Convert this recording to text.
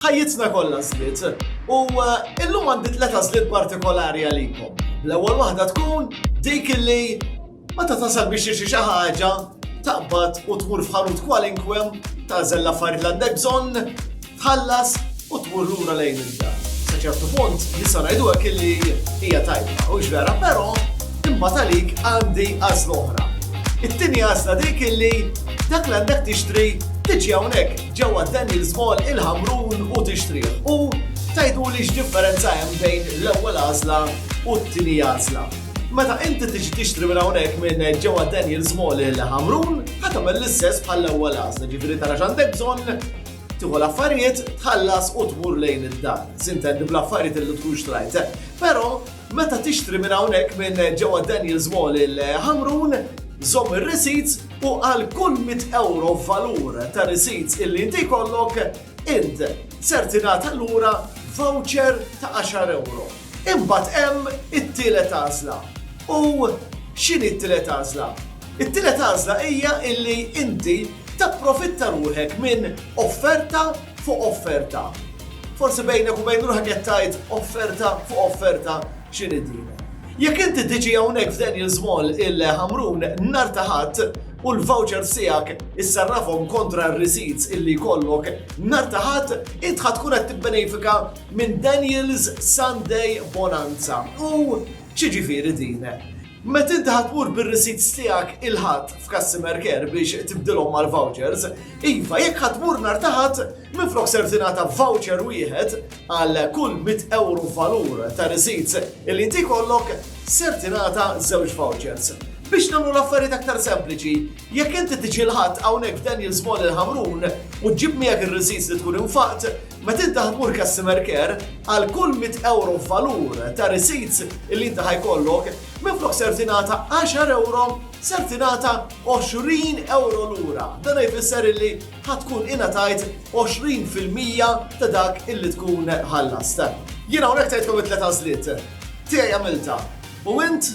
Ħajjitna kollha għażliet, u illum għandi tliet għażliet partikolari għalikom. L-ewwel waħda tkun dik li meta tasal biex tixtri xi ħaġa taqbad u tmur f'ħanut kwalinkwe tażel l-affarijiet li għandek bżonn, tħallas u tmur lura lejn id-dar. Sa ċertu punt nista' ngħidu hekk li hija tajba, u vera, però imma talik għandi għażla oħra. It-tieni għażla dik illi dak li għandek tixtri tiġi hawnhekk ġewwa Daniels Mall il-Ħamrun u tixtrih u tgħiduli x'differenza hemm bejn l-ewwel għażla u t-tieni għażla. Meta inti tiġi tixtri minn hawnhekk minn ġewwa Daniels Mall il-Ħamrun ħa tagħmel l-istess bħall-ewwel għażla, ġifieri tara x'għandek bżonn, tieħu l-affarijiet, tħallas u tmur lejn id-dar. Sintendi bl-affarijiet li tkun xtrajt. Però meta tixtri minn hawnhekk minn ġewwa Daniels Mall il-Ħamrun, żomm ir-receipts, u għal kull mitt ewro valur ta' risids illi int jkollok, int ser tingħata lura voucher ta' għaxar ewro. Imbagħad hemm it-tielet għażla. U x'inhi t-tielet għażla? It-tielet għażla hija illi inti tapprofitta ruħek minn offerta fuq offerta. Forsi bejnek u bejn ruħek qed tgħid offerta fuq offerta X'inhi din? Jekk inti tiġi hawnhekk f'Daniel's Mall il-Ħamrun nhar ta' Ħadd u l-vouchers tiegħek issarrafhom kontra r-receipts illi jkollok nhar ta' Ħadd, int ħa tkun qed tibbenefika minn Daniel's Sunday Bonanza. U x'jiġifieri din? Meta inti ħa tmur bir-receipts tiegħek il-Ħadd f'customer care biex tibdilhom mal-vouchers, iva, jekk ħa tmur nhar ta' Ħadd, minflok ser tingħata voucher wieħed għal kull mitt ewro valur ta' receipts li inti jkollok, ser tingħata żewġ vouchers. Biex nagħmlu l-affarijiet aktar sempliċi, jekk inti tiġi l-Ħadd hawnhekk f'Daniel's Mall il-Ħamrun u ġġib miegħek ir-receipts li tkun infaqt, Meta inti ħa tmur customer care, għal kull 100 ewro f'valur ta' receipts li inti ħa jkollok, minflok ser tingħata 10 ewro, ser tingħata 20 ewro lura. Dan jfisser illi ħa tkun ingħatajt 20 fil-mija ta' dak illi tkun ħallast. Jiena hawnhekk tgħidkom it-tliet għażliet. Tiegħi għamilta. U int?